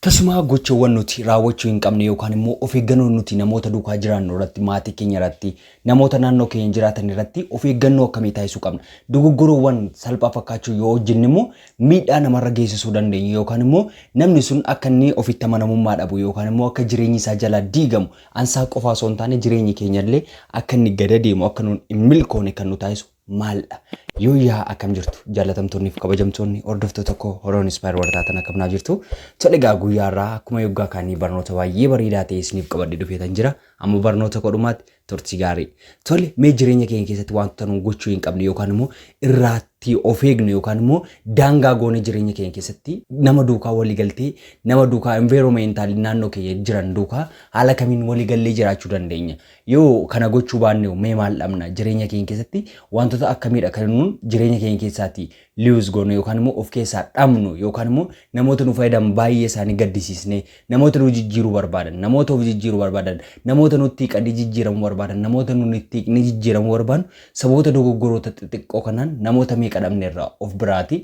Tasumaa gochawwan nuti raawwachuu hin qabne yookaan immoo of eeggannoo nuti namoota duukaa jiraannu irratti, maatii keenya irratti, namoota naannoo keenya jiraatan irratti of eeggannoo akkamii taasisuu qabna? Dogoggorowwan salphaa fakkaachuu yoo hojjenne immoo miidhaa namarra geessisuu dandeenyu yookaan immoo namni sun akka inni ofitti amanamummaa dhabu yookaan immoo akka jireenyi isaa jalaa diigamu ansaa qofaa osoo hin taane jireenyi keenya illee akka inni gada deemu akka nuun hin milkoone kan nu taasisu maaldha? Yooyyaa akkam jirtu jaallatamtoonni fi kabajamtoonni hordoftoota koo Horoon Inspire warra taatan akkam naa jirtu? Tole egaa guyyaa irraa akkuma yoggaa kaanii barnoota baay'ee bareedaa ta'e isiniif qabadhee dhufeetan jira. Amma barnoota koo dhumaatti turtii gaarii. Tole mee jireenya keenya keessatti wantoota nu gochuu hin qabne yookaan immoo irraatti of eegnu yookaan immoo daangaa goone jireenya keenya keessatti nama duukaa walii galtee nama duukaa environmental naannoo keenya jiran duukaa haala kamiin walii gallee jiraachuu dandeenya. Yoo kana gochuu baannehoo mee maal dhabna? Jireenya keenya keessatti wantoota akkamiidha kan nuun jireenya keenya keessaati lose goonu yookaan immoo of keessaa dhabnu yookaan immoo namoota nu fayyadan baay'ee isaanii gaddisiisnee namoota nu jijjiiruu barbaadan namoota of jijjiiruu barbaadan namoota nutti hiiqanii jijjiiramuu barbaadan namoota nuun itti hiiqnee jijjiiramuu barbaannu sababoota dogoggoroota xixiqqoo kanaan namoota meeqa dhabneerra of biraati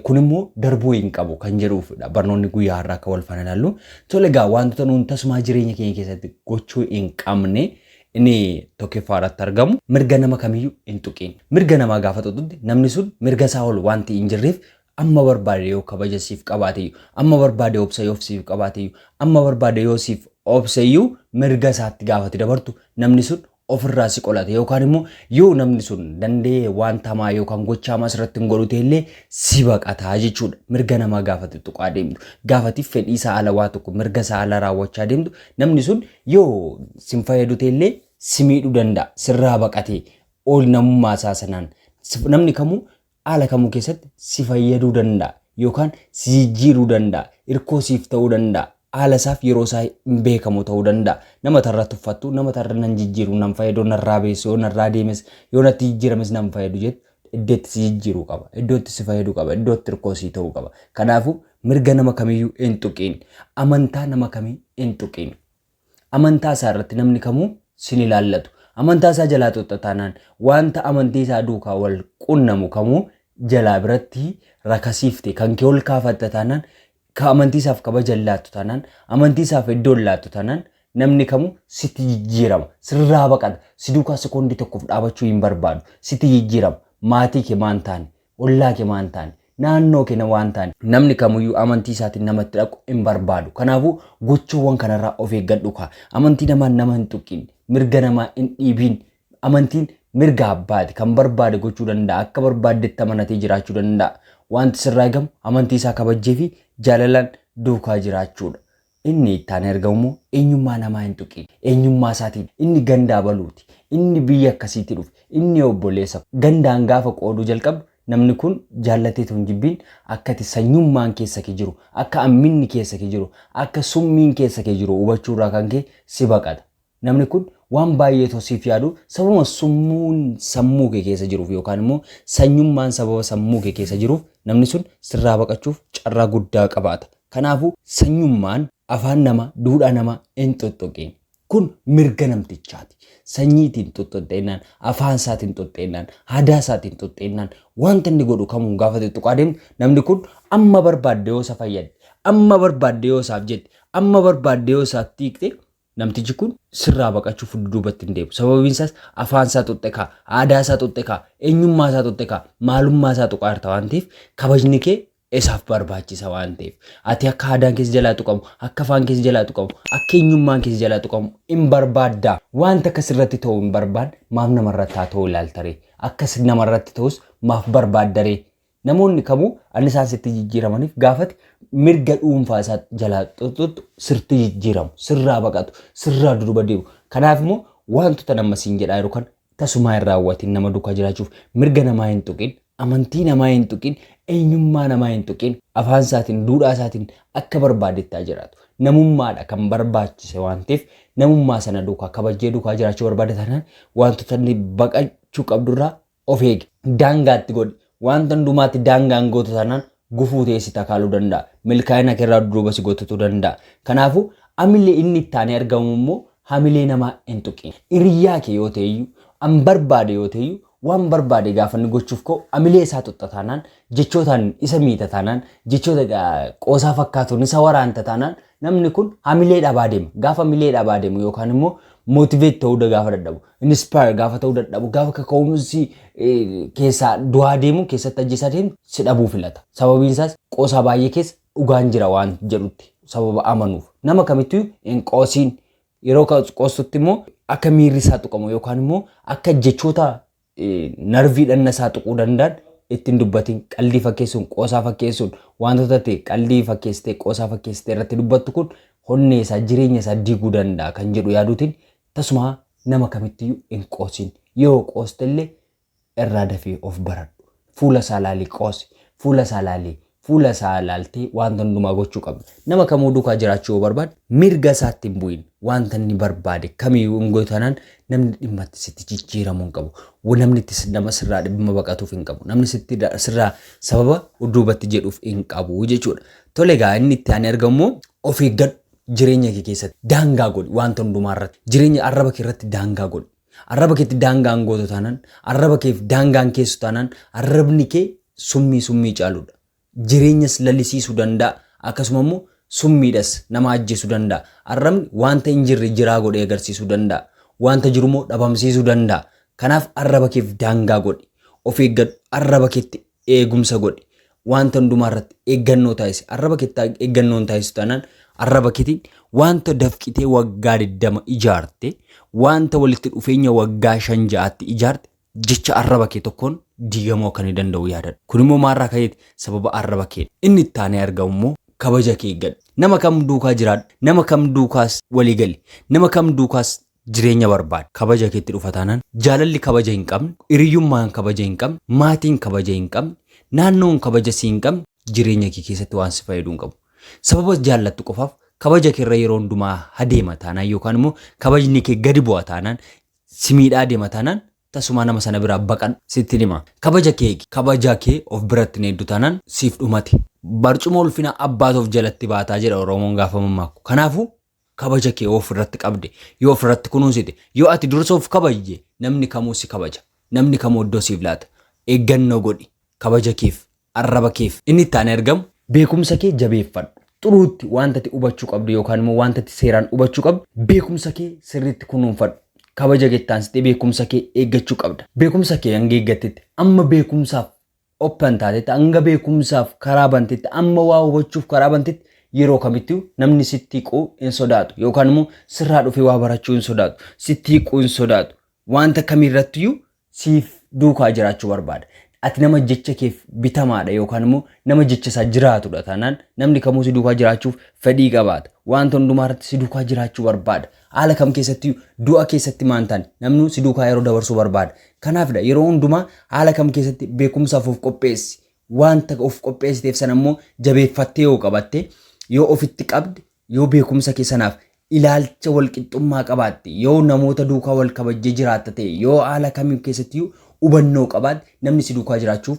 Kun immoo darbuu hin qabu kan jedhuufidha. Barnoonni guyyaa har'aa akka wal faana ilaallu. Tole egaa wantoota nuun tasumaa jireenya keenya keessatti gochuu hin qabne inni tokkoffaa irratti argamu mirga nama kamiyyuu hin tuqiin. Mirga namaa gaafa tuqxutti namni sun mirga isaa ol wanti hin jirreef amma barbaade yoo kabaja siif qabaateyyu, amma barbaade obsa yoo siif qabaateyyu, amma barbaade yoo siif obseyyu mirga isaatti gaafati dabartu namni sun ofirraa si qolate yookaan immoo yoo namni sun danda'ee wanta hamaa yookaan gocha hamaa sirratti hin godhu ta'e illee si baqataa jechuudha. Mirga namaa gaafatti tuqaa deemtu. Gaafatti fedhii isaa ala waa tokko mirga isaa ala raawwachaa deemtu namni sun yoo sin fayyadu ta'e illee si miidhuu danda'a. Sirraa baqatee ol namummaa isaa sanaan namni kamuu haala kamuu keessatti si fayyaduu danda'a yookaan si jijjiiruu danda'a, irkoo siif ta'uu danda'a, haala isaaf yeroo isaa hin beekamu ta'uu danda'a. Nama tarra tuffattu, nama tarra nan jijjiiru, nan fayyadu, narraa beessu, yoo narraa deemes, yoo natti jijjiirames nan fayyadu jettu iddoo itti si jijjiiruu qaba, iddoo itti si fayyaduu qaba, iddoo itti irkoo sii ta'uu qaba. Kanaafuu mirga nama kamiyyuu hin tuqiin, amantaa nama kamii hin tuqiin. Amantaa isaa irratti namni kamuu sin ilaallatu. Amantaa isaa jalaa xuxxa taanaan wanta amantii isaa duukaa wal qunnamu kamuu jalaa biratti rakasiifte kan kee ol kaafatta taanaan ka amantii isaaf kabaja hin laattu taanaan amantii isaaf iddoo hin laattu taanaan namni kamuu sitti jijjiirama sirraa baqata si duukaa sekondii tokkoof dhaabachuu hin barbaadu sitti jijjiirama maatii kee maan taane Ollaa kee maa hin taane? Naannoo kee nama waan taane? Namni kamuyyuu amantii isaatiin nama itti dhaqu hin barbaadu. Kanaafuu gochawwan kanarraa of eeggadhu kaa. Amantii namaan nama hin tuqqiin. Mirga namaa hin dhiibiin. Amantiin mirga abbaati. Kan barbaade gochuu danda'a. Akka barbaaddetti amanatee jiraachuu danda'a. Wanti sirraa eegamu amantii isaa kabajjee fi jaalalaan duukaa jiraachuudha. Inni ittaanee argamu immoo eenyummaa namaa hin tuqiin, eenyummaa isaatiin inni ganda abaluuti, inni biyya akkasiitii dhufe, inni obboleessa koo. Gandaan gaafa qooduu jalqabdu namni kun jaallatee utuu hin jibbiin akka ati sanyummaan keessa kee jiru, akka hamminni keessa kee jiru, akka summiin keessa kee jiru hubachuurraa kan ka'e si baqata. Namni kun waan baay'ee otoo siif yaaduu sababuma summuun sammuu kee keessa jiruuf yookaan immoo sanyummaan sababa sammuu kee keessa jiruuf namni sun sirraa baqachuuf carraa guddaa qabaata. Kanaafuu sanyummaan afaan namaa, duudhaa namaa hin xoxxoqiin. Kun mirga namtichaati. Sanyiitiin hin xoxxoxxeennaan, afaan isaatiin hin xoxxeennaan, aadaa isaatiin hin xoxxeennaan wanta inni godhu kamuun gaafa tuttuqaa deemtu namni kun amma barbaadde yoo isa fayyadde, amma barbaadde yoo isaaf jette, amma barbaadde yoo isaatti hiikte Namtichi kun sirraa baqachuuf dudduubatti hin deebi'u. Sababiin isaas afaan isaa xuqxe kaa, aadaa isaa xuqxe kaa, eenyummaa isaa xuqxe kaa, maalummaa isaa tuqaa jirta waan ta'eef kabajni kee isaaf barbaachisa waan ta'eef. Ati akka aadaan keessa jalaa tuqamu, akka afaan keessa jalaa tuqamu, akka eenyummaan keessa jalaa tuqamu hin barbaadda. Wanta akka sirratti ta'u hin barbaanne maaf namarratti haa ta'u ilaalta ree? Akka namarratti ta'us maaf barbaadda ree? Namoonni kamuu annisaan sitti jijjiiramaniif gaafati mirga dhuunfaa isaa jalaa xuxxuxxu sirti jijjiiramu, sirraa baqatu, sirraa duduba deemu. Kanaaf immoo wantoota nama siin jedhaa jiru kan tasumaa hin raawwatiin nama duukaa jiraachuuf mirga namaa hin tuqin, amantii namaa hin tuqin, eenyummaa namaa hin tuqin, afaan isaatiin, duudhaa isaatiin akka barbaadettaa jiraatu. Namummaadha kan barbaachise waan ta'eef namummaa sana duukaa kabajjee duukaa jiraachuu barbaada taanaan wantoota inni baqachuu qabdurraa Of eegi. Daangaa itti godhi. Wanta hundumaatti daangaa hin gootu taanaan gufuu ta'ee si takaaluu danda'a. Milkaa'ina keerraa dudduuba si gotutu danda'a. Kanaafuu hamilee inni itti aanee argamu immoo hamilee namaa hin tuqin. Hiriyyaa kee yoo ta'eyyuu, an barbaade yoo ta'eyyuu waan barbaade gaafa inni gochuuf ka'u hamilee isaa tuqxa taanaan, jechootaan isa miita taanaan, jechoota qoosaa fakkaatuun isa waraanta taanaan namni kun hamilee dhabaa deema. Gaafa hamilee dhabaa deemu yookaan immoo motivate ta'uu gaafa dadhabu. inspire gaafa ta'uu dadhabu gaafa kaka'umsi keessaa du'aa deemu keessatti ajjeesaa deemu si dhabuu filata. Sababiin isaas qoosaa baay'ee keessa dhugaan jira waan jedhutti sababa amanuuf nama kamittuu hin qoosiin yeroo qoostutti immoo akka miirri isaa tuqamu yookaan immoo akka jechoota narvii dhanna isaa tuquu danda'an ittiin dubbatiin qaldii fakkeessuun qoosaa fakkeessuun wantoota ta'e qaldii fakkeessitee qoosaa fakkeessitee irratti dubbattu kun honnee isaa jireenya isaa diiguu danda'a kan jedhu yaaduutiin Tasumaa nama kamittiyyu hin qoosin. Yoo qoostelle irraa dafii of baradhu. Fuula isaa laalii qoosi. Fuula isaa laalii. Fuula isaa laaltee waanta hundumaa gochuu qabda. Nama kamuu duukaa jiraachuu yoo barbaadde mirga isaatti hin bu'in. Waanta inni barbaade kamiyyuu hin gootu taanaan namni dhimma itti sitti jijjiiramu hin qabu. Wa- Namni itti si- nama sirraa dhimma baqatuuf hin qabu. Namni sitti da- sirraa sababa duubatti jedhuuf hin qabu jechuudha. Tole egaa inni itti aanee argamu immoo of eeggadhu. jireenya kee keessatti daangaa godhi wanta hundumaa irratti jireenya arraba kee irratti daangaa godhi arraba keetti daangaan gootu taanaan arraba keef daangaan keessu taanaan arrabni kee summii summii caaludha jireenyas lalisiisuu danda'a akkasuma immoo summiidhas nama ajjeesuu danda'a arrabni wanta hin jirre jiraa godhee agarsiisuu danda'a wanta jiru immoo dhabamsiisuu danda'a kanaaf arraba keef daangaa godhi of eeggadhu arraba keetti eegumsa godhi. Wanta hundumaa irratti eeggannoo taasisi. Arraba keetti eeggannoo hin taasisu taanaan arraba keetiin wanta dafqitee waggaa 20 ijaarte, wanta walitti dhufeenya waggaa 5 ja'aatti ijaarte jecha arraba kee tokkoon diigamuu akka ni danda'u yaadadha. Kun immoo maarraa ka'eeti sababa arraba kee. Inni itti aanee argamu immoo kabaja kee eeggadhu. Nama kam duukaa jiraadhu, nama kam duukaas walii gali, nama kam duukaas jireenya barbaadda. Kabaja keetti dhufa taanaan jaalalli kabaja hin qabne, hiriyyummaan kabaja hin qabne, maatiin kabaja hin qabne, naannoon kabaja si hin qabne jireenya kee keessatti waan si fayyadu hin qabu. Sababa jaallattu qofaaf kabaja kee irra yeroo hundumaa hadeema taanaan yookaan immoo kabajni kee gadi bu'a taanaan si miidhaa adeema taanaan tasumaa nama sana biraa baqadhu sitti hima. Kabaja kee eegi. Kabaja kee of biratti hin eegdu taanaan siif dhumate. Barcuma ulfina abbaatu of jalatti baataa jedha Oromoon gaafa mammaakku. Kanaafuu kabaja kee yoo ofirratti qabde, yoo ofirratti kunuunsite, yoo ati dursa of kabajje namni kamuu si kabaja. Namni kamuu iddoo siif laata. Eeggannoo godhi kabaja keef, arraba keef. Inni itti aanee argamu beekumsa kee jabeeffadhu. Xuruutti wanta ati hubachuu qabdu yookaan immoo wanta ati seeraan hubachuu qabdu beekumsa kee sirriitti kunuunfadhu. Kabaja kee itti aansitee beekumsa kee eeggachuu qabda. Beekumsa kee hanga eeggattetti amma beekumsaaf open taatetti, hanga beekumsaaf karaa bantetti, amma waa hubachuuf karaa bantetti yeroo kamittuu namni sitti hiquu hin sodaatu yookaan immoo sirraa dhufee waa barachuu hin sodaatu, sitti hiquu hin sodaatu. Wanta kamirrattiyyuu siif duukaa jiraachuu barbaada. Ati nama jecha keef bitamaadha yookaan immoo nama jecha isaa jiraatudha taanaan namni kamuu si duukaa jiraachuuf fedhii qabaata. Wanta hundumaa irratti si duukaa jiraachuu barbaada. Haala kam keessattiyyuu du'a keessatti maa hin taane namnuu si duukaa yeroo dabarsuu barbaada. Kanaafidha yeroo hundumaa haala kam keessatti beekumsaaf of qopheessi. Waanta of qopheessiteef sana immoo jabeeffattee yoo qabatte, yoo ofitti qabde, yoo beekumsa kee sanaaf ilaalcha wal qixxummaa qabaatte, yoo namoota duukaa wal kabajjee jiraatta ta'e, yoo haala kam keessattiyyuu hubannoo qabaatte namni si duukaa jiraachuuf